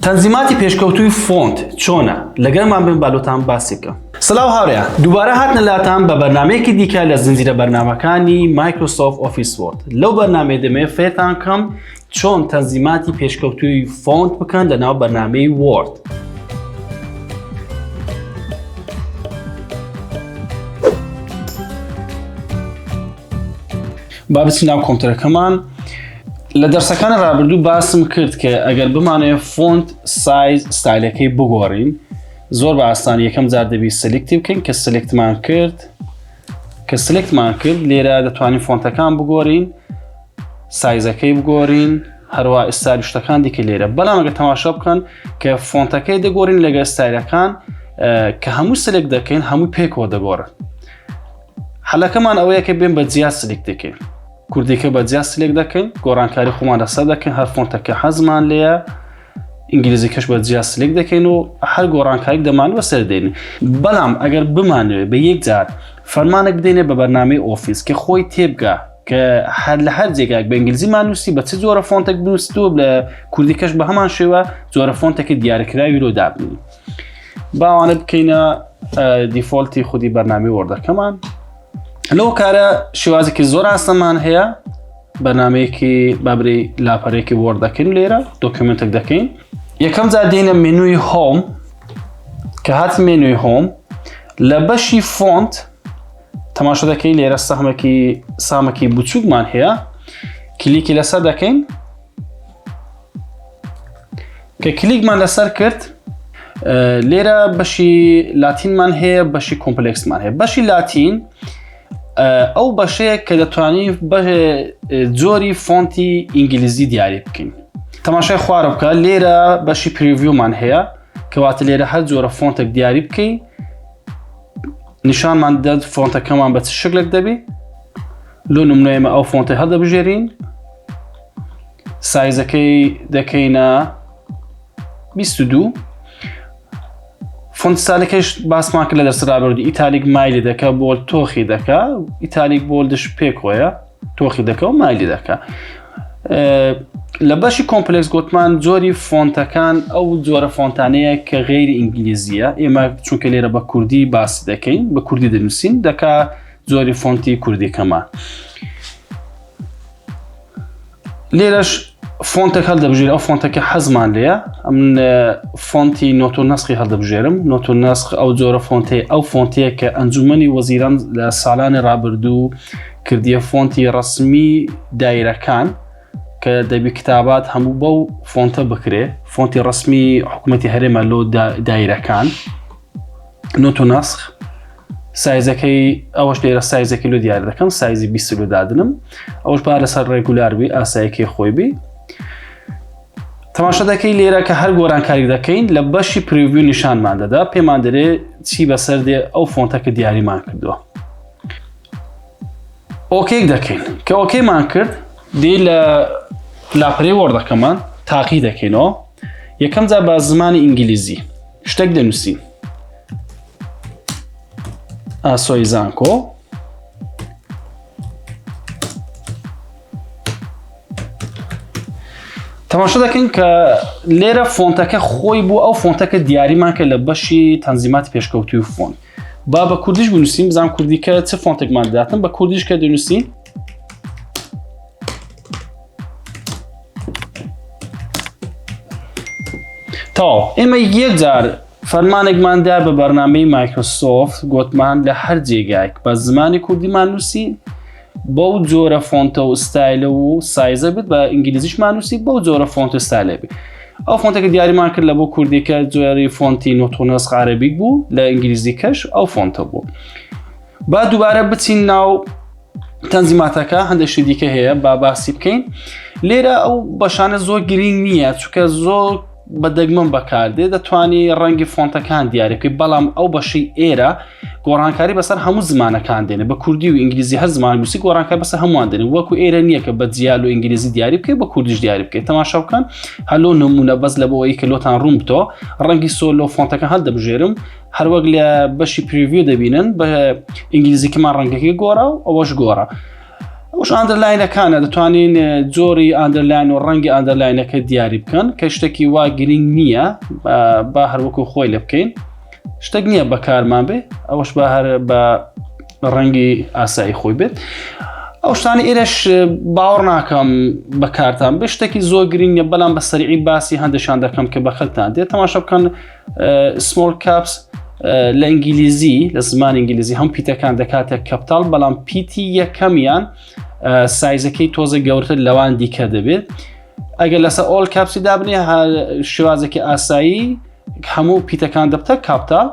تەنزیماتی پێشکەوتووی فۆنت چۆنە لەگەرمان بن بالۆتان باسی بکەم سلااو هاورێ دووبارە هاتنە لاتان بە بەرنمەیەکی دیکە لە زنجیرە بەرنمەکانی مایکرۆسۆف ئۆفیس وۆرد لەو بەرنمەی دەمێ فێتان کەم چۆن تەنزیماتی پێشکەوتووی فۆنت بکەن لە ناو بەرنمەی وۆرد. با بچین ناو کۆمپیوتەرەکەمان لە دەرسەکانی ڕابردوو باسم کرد کە ئەگەر بمانەیە فۆنت سایز ستایلەکەی بگۆڕین زۆر بە ئاسانی یەکەم جار دەبی سلکتی بکەین کە سلکتمان کرد کە سلکتمان کرد لێرە دەتوانین فۆنتەکان بگۆرین سایزەکەی بگۆرین هەروە ئستاری شتەکان دیکە لێرە بەڵامەگە تەماشا بکەن کە فۆنتەکەی دەگۆرین لەگە ستایلەکان کە هەموو سلک دەکەین هەموو پێکەوە دەگۆڕن حەلەکەمان ئەوەیە کە بێن بە جیا سلک دەکەین کوردیکە بە جیا سلێک دەکەین گۆڕانکاری خۆمان لەسەر دەکەین هەر فۆنتەکە حەزمان لەیە ئینگلیزی کەش بە جیا سلێک دەکەین و هەر گۆڕانکاری دەمان بەسەر دێن بەڵام ئەگەر بمانوێ بە یەک جار فەرمانێک بدەینێ بە بەرنامەی ئۆفیس کە خۆی تێبگا کە هەر لە هەر جێگاک بە ئنگلیزی مانوسی بە چ جۆرە فۆنتێک بنووسیوە لە کوردی کەش بە هەمان شێوە جۆرە فۆنتێکی دیارکراوی لۆ دابنی باوانە بکەینە دیفۆلتی خودی بەرنامی وەردەکەمان لەو کارە شێوازێکی زۆر ئاستەمان هەیە بەنامەیەکی بابری لاپەرێکی وەرد دەکەین لێرە دۆکمنتێک دەکەین یەکەم جا دێنە منوی هۆم کە هات منوی هۆم لە بەشی فۆنت تەماشە دەکەین لێرە سەحمەکی سامەکی بچووکمان هەیە کلیکی لەسەر دەکەین کە کلیکمان لەسەر کرد لێرە بەشی لاتینمان هەیە بەشی کۆمپلکسمان هەیە بەشی لاتین ئەو بەشەیە کە دەتوانانی جۆری فۆنتی ئینگلیزی دیاری بکەین تەماشای خوارە بکە لێرە بەشی پریڤیومان هەیە کەواتە لێرە هەر جۆرە فۆنتێک دیاری بکەین نیشانمان دەد فۆنتەکەمان بە چ شکلێک دەبی لۆ نمونەیمە ئەو فۆنتی هەڵدەبژێرین سایزەکەی دەکەینە بیست و دوو فۆنت ستایلەکەش باسمان کرد لە دەرسە رابردوو ئیتالیک مایلی دەکە بۆل تۆخی دەکە ئیتالیک بۆلدش پێکۆیە تۆخی دەکە و مایلی دەکە لە بەشی کۆمپلکس گوتمان جۆری فۆنتەکان ئەو جۆرە فۆنتانەیە کە غیری ئینگلیزیە ئێمە چونکە لێرە بە کوردی باس دەکەین بە کوردی دەنووسین دەکا زۆری فۆنتی کوردیکەمان. لێرەش فۆنتێک هەڵدەبژێر ئەو فۆنتەکە حەزمان لێە ئەم فۆنتی نۆت و نسخی هەڵدەبژێرم نۆت و نسخ ئەو جۆرە فۆنتی ئەو فۆنتەیە کە ئەنجومی وەزیران لە ساڵانی ڕابردوو کردیە فۆنتی ڕسمی دایرەکان کە دەبی کتابات هەموو بەو فۆنتە بکرێ فۆنتی ڕسمی حکوومەتتی هەرێمە لۆ دایرەکان نۆت و نسخ سایزەکەی ئەوەش لێرە سایزە کیلو دیار دەکەم سایزی 20 لو دادنم ئەوش با لەسەر ڕێگولار بی ئاسایەکەی خۆی بی تەماشا دەکەی لێرە کە هەر گۆرانکاری دەکەین لە بەشی پریوی نیشانمان دەدا پێمان دەرێ چی بەسەر دێ ئەو فۆنتەکە دیاریمان کردووە ئۆکێک دەکەین کە ئۆکێمان کرد دی لە لاپەرەی وەردەکەمان تاقی دەکەینەوە یەکەم جا بە زمانی ئینگلیزی شتێک دەنووسین ئاسۆی زانکۆ تەماشا دەکەین کە لێرە فۆنتەکە خۆی بوو ئەو فۆنتەکە دیاریمان کە لە بەشی تەنزیمات پێشکەوتوی و فۆن با بە کوردیش بنووسین بزان کوردیکە چ فۆنتێکمان داتن بە کوردیش کە دەنووسین تاو ئێمە یەک جار فەرمانێکمان دا بە بەرنمەی مایکرۆسۆفت گوتمان لە هەر جێگایك بە زمانی کوردیمان نووسی بەو جۆرە فۆنتە و ستایلە و سایزە بێت بە ئینگلیزیشمان نووسی بەو جۆرە فۆنتە ستایلە بێت ئەو فۆنتەکە دیاریمان کرد لە بۆ کوردێکە جۆری فۆنتی نۆتۆنەس عربیک بوو لە ئینگلیزی کەش ئەو فۆنتە بوو با دووبارە بچین ناو تەنزیماتەکە هەندێک شتی دیکە هەیە با باسی بکەین لێرە ئەو بەشانە زۆر گرنگ نییە چکە زۆر بە دەگمەن بەکاردێ دەتوانی ڕەنگی فۆنتەکان دیارەکەی بەڵام ئەو بەشی ئێرە گۆڕانکاری بەسەر هەموو زمانەکان دێنێ بە کوردی و ئینگلیزی هەر زمان نووسی گۆڕانکە بەسە هەمووان دێن وەکو ئێرە نییە کە بە جیال و ئینگلیزی دیاری بکەیت بە کوردیش دیاری بکەیت تەماشا بکەن هەلو نمونە بەس لە بۆەوەی کە لۆتان ڕوون بتۆ ڕەنگی سۆلۆ فۆنتەکە هەر دەبژێرم هەروەک لە بەشی پریویو دەبینن بە ئینگلیزیکەمان ڕەنگەکەی گۆڕا و ئەوەش گۆڕە ئەوش ئاندرلاینەکانە دەتوانین جۆری ئاندرلاین و ڕەنگی ئاندرلاینەکە دیاری بکەن کە شتێکی وا گرنگ نییە با هەروەکو خۆی لە بکەین شتێک نییە بەکارمان بێ ئەوش بە هەر بە ڕەنگی ئاسایی خۆی بێت ئەو شتانی ئێرەش باوەڕ ناکەم بەکارتان بە شتێکی زۆر گرنگە بەڵام بە سەرعی باسی هەندێکشان دەکەم کە بە خەکتان دێت تەماشە بکەن سمۆل کاپس لە ئینگلیزی لە زمان ئینگلیزی هەم پیتەکان دەکاتە کەپتال بەڵام پیتی یەکەمیان سایزەکەی تۆزە گەورتر لەوان دیکە دەبێت ئەگەر لەسەر ئۆل کاپسی دابنی شێوازێکی ئاسایی هەموو پیتەکان دەبتە کاپتال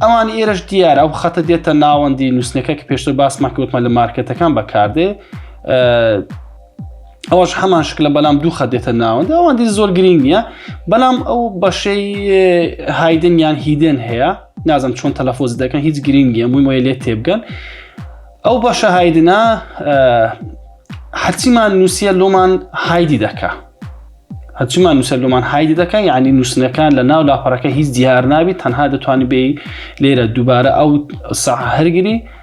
ئەوان ئێرش دیار ئەو خەتە دێتە ناوەندی نووسنەکە کە پێشتر باسمەکەوتمە لە مارکەتەکان بەکاردێ ئەوەش هەمان شکلە بەلام دوو خە دێتە ناوەندە ئەوان دی زۆر گرنگ نییە بەلام ئەو بەشەی هایدن یان هیدێن هەیە نازم چۆن تەلەفۆز دەکەن هیچ گرنگە مویمۆی لێ تێبگەن ئەو بەشە هایدنا هەرچیمان نووسە لۆمان هایدی دەکە هەچمان نووسەر لۆمان هایدی دەکە یعنی نووسنەکان لە ناو لاپەرەکە هیچ دیار نابیت تەنها دەتوانانی بێ لێرە دووبارە ئەو سا هەرگری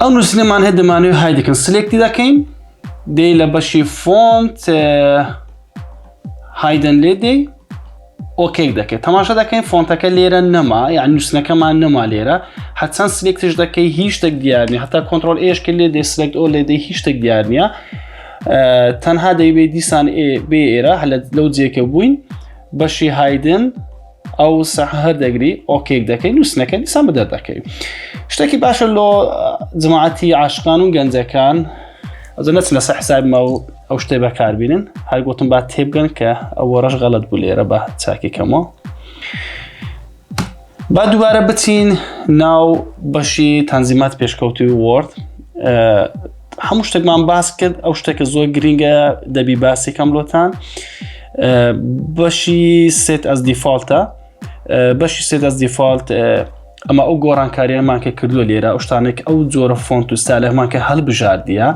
ئەو نووسلێمان هەیە دەمانەوە های دەکەن سلێکتی دەکەین دێ لە بەشی فۆنت هایدن لێ دێ ئۆکەی دەکەیت تەماشا دەکەین فۆنتەکە لێرە نەما یان نووسنەکەمان نەما لێرە حەچەند سلێکتش دەکەی هیچ شتێک دیارنی هەتا کۆنتترۆل ئێشکە لێ دەسلێکت ئۆ لێدەی هیچ شتێک دیار نییە تەنها دەیبێ دیسان بێ ئێرە هەلە لەو جێکە بووین بەشی هایدن ئەو سەح هەر دەگری ئۆکێک دەکەی نووسنەکە دیسان بدەر دەکەی شتێکی باشە لۆ جماعەتی عاشقان و گەنجەکان ئەزە نەچ لەسەر حساب ما و ئەو شتێ بەکاربیێنن هەر گوتم با تێبگەن کە ئەوە ڕەش غەڵت بوو لێرە بە چاکێکەمەوە با دووبارە بچین ناو بەشی تەنزیمات پێشکەوتی وۆرد هەموو شتێکمان باس کرد ئەو شتێکە زۆر گرینگە دەبی باسێکم لۆتان بەشی سێت ئەس دیفاالتە بەشی سێ دەست دیفاالت ئەمە ئەو گۆڕانکاریانمان کە کردووە لێرە ئەوشتانێک ئەو جۆرە فۆنت و سالەمان کە هەڵبژاردە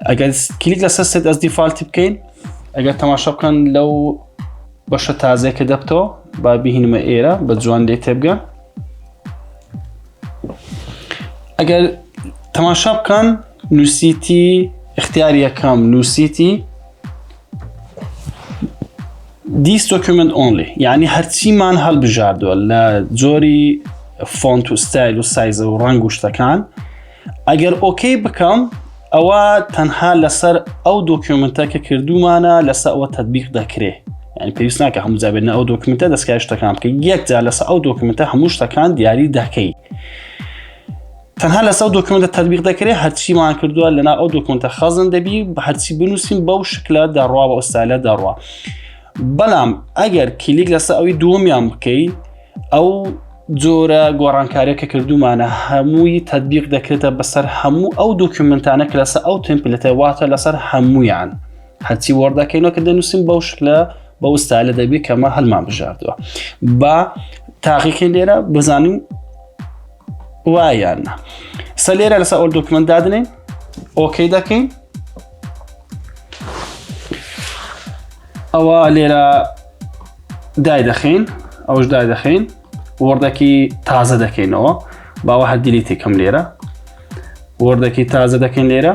ئەگەر کلیک لەسەر سێت ئەس دیفاالتی بکەین ئەگەر تەماشا بکەن لەو بەشە تازێکە دەبتەوە با بهینمە ئێرە بە جوان لێ تێبگە ئەگەر تەماشا بکەن نووسیتی اختیار یەکەم نووسیتی دیس دۆکیومنت ئۆنلی یعنی هەرچیمان هەڵبژاردووە لە جۆری فۆنت و ستایل و سایزە و ڕنگ و شتەکان ئەگەر ئۆکەی بکەم ئەوە تەنها لەسەر ئەو دۆکیومنتە کە کردومانە لەسەر ئەوە تدبیق دەکرێ یعنی پێویست ناکە هەموو جابێنە ئەو دۆکیومنتە دەستکای شتەکان بکە یەکجار لەسەر ئەو دۆکیومنتە هەموو شتەکان دیاری دەکەی تەنها لەسەر ئەو دۆکمنتە تەطبیق دەکرێت هەرچیمان کردووە لەنا ئەو دۆکمنتە خەزن دەبی بە هەرچی بنووسین بەو شکلە دەڕوا بە ئۆستالە دەڕوا بەڵام ئەگەر کلیک لەسەر ئەوی دووەمیان بکەی ئەو جۆرە گۆڕانکارە کە کردومانە هەمووی تەبیق دەکرێتە بەسەر هەموو ئەو دۆکیومنتانە کە لەسەر ئەو تمپلەتە واتە لەسەر هەمویان هەرچی وەردەکەینەوە کە دەنووسین بەو شکلە بە وستالە دەبێت کەمە هەلمان بژاردووە با تاقیکە لێرە بزانین وایان سە لێرە لەسە ئەو دکمنت دادنین ئۆکەی دەکەین ئەوە لێرە دای دەخین ئەوش دای دەخین وردەکی تازە دەکەینەوە باوە هەدیلیتی کەم لێرە وردەکی تازە دەکەین لێرە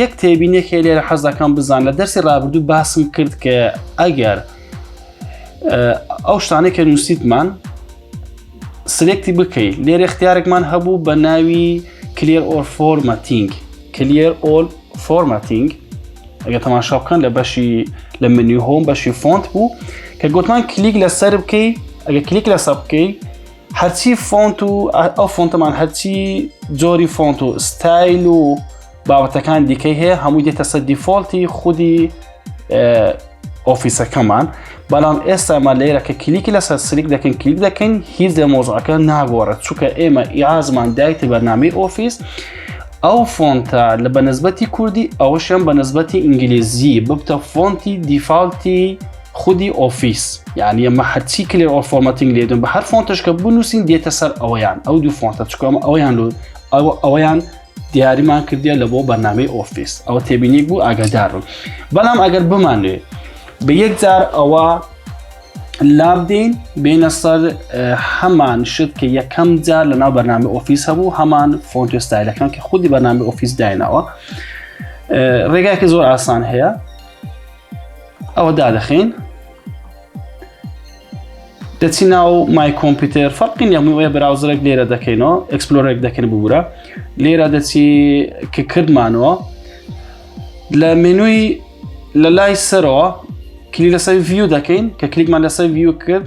یەک تێبینێکی لێرە حەز دەکەم بزان لە دەرسی ڕابردوو باسم کرد کە ئەگەر ئەو شتانەی کە نووسیتمان سلێکتی بکەیت لێرە اختیارێکمان هەبوو بە ناوی کلێر ئۆر فۆرمەتینگ کلێر ئۆل فۆرمەتینگ ئەگە تەماشا بکەن لە بەشی لە منی هۆم بەشی فۆنت بوو کە گوتمان کلیک لەسەر بکەی ئەگە کلیک لەسە بکەی هەرچی فۆنت و ئەو فۆنتەمان هەرچی جۆری فۆنت و ستایل و بابەتەکان دیکەی هەیە هەموو دێتە سەر دیفۆلتی خودی ئۆفیسەکەمان بەڵام ئێستامان لێرە کە کلیکی لەسەر سلیک دەکەین کلیک دەکەین هیچ لە مۆزعەکە ناگۆڕێت چونکە ئێمە ئیعازمان دایتە بەنامی ئۆفیس ئەو فۆنتە لە بەنسبەتی کوردی ئەوەشیان بەنسبەتی ئینگلیزی ببتە فۆنتی دیفاالتی خودی ئۆفیس یعنی ئەمە هەرچی کلێ ئۆ فۆمەتنگ لێدون بە هەر فۆنتش کە بنووسین دێتە سەر ئەویان ئەو دوو فۆنتە چکۆم ئەویان لو ئەوە ئەویان دیاریمان کردیە لە بۆ بەنامی ئۆفیس ئەوە تێبینیک بوو ئاگادارون بەڵام ئەگەر بمانوێ بە یەکجار ئەوە لابدەین بینە سەر هەمان شت کە یەکەم جار لە ناو بەنامی ئۆفیس هەبوو هەمان فۆنتۆستایلەکان کە خودی بەنامی ئۆفیس داینەوە ڕێگاکە زۆر ئاسان هەیە ئەوە دادەخین دەچی ناو مای کۆمپیوتەر فەرقی نیەموی وەیە براوزرێک لێرە دەکەینەوە ئەکسپلۆرێک دەکەن ببوورە لێرە دەچی کە کردمانەوە لە مێنووی لە لای سەرەوە کلی لەسەر ڤیو دەکەین کە کلیکمان لەسەر ڤیو کرد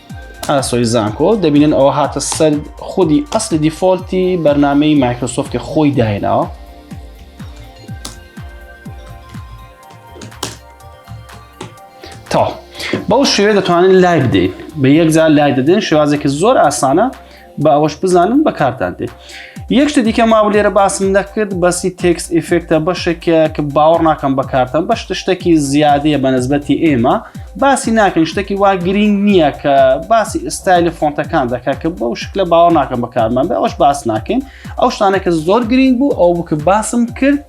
ئاسۆی زانکۆ دەبینن ئەوە هاتە سەر خودی ئەسلی دیفۆلتی بەرنمەی مایکرۆسۆفتی خۆی دایناوە تا بەو شێوێ دەتوانن لای بدەین بە یەکجار لای دەدەن شێوازێکی زۆر ئاسانە بە ئەوەش بزانن بەکارتان دێت یەک شتە دیکە ماوە لێرە باسم نەکرد بەسی تێکس ئیفێکتە بەشێکە کە باوەڕ ناکەم بەکارتان بەش شتێکی زیادەیە بە نسبەتی ئێمە باسی ناکەن شتێکی وا گرنگ نییە کە باسی ئستایلی فۆنتەکان دەکە کە بەو شکلە باوە ناکەم بەکارمان بە ئەوش باس ناکەین ئەو شتانەکە زۆر گرنگ بوو ئەو بکە باسم کرد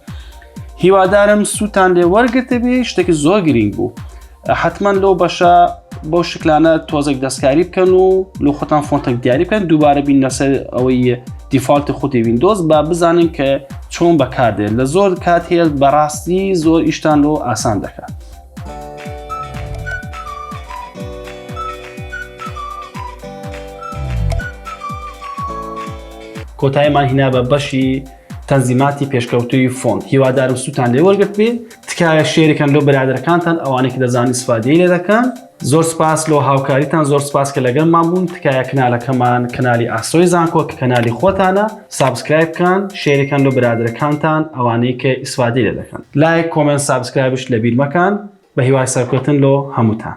هیوادارم سووتان لێ وەرگتەبی شتێکی زۆر گرنگ بوو. حتمما لەو بەشە بۆ شکلانە تۆزێک دەستکاری بکەن و لە خۆتان فۆنتێک دیاری بکەن دووبارە بین لەسەر ئەوەی دیفاالتی خودی وینندۆز با بزانین کە چۆن بەکاردێت لە زۆر کات هەیە بەڕاستی زۆر ئیشتان لۆ ئاسان دەکات. کۆتایمان هینا بە بەشی تەنزیماتی پێشکەوتوی فۆن هیوادارم سووتان لێ وەرگرت بێ تکایە شێریکەن لۆ برادەرەکانتان ئەوانەی کە دەزانن ئیسفادەی لێ دەکەن زۆر سپاس لۆ هاوکاریتان زۆر سپاس کە لەگەڵمان بوون تکایە کنالەکەمان کەنالی ئاسۆی زانکۆ کە کەنالی خۆتانە سابسکرایب بکەن شێریکەن لۆ برادەرەکانتان ئەوانەی کە ئیسفادەی لێ دەکەن لایک کۆمێنت سابسکرایبش لەبیر مەکەن بە هیوای سەرکەوتن لۆ هەمووتان.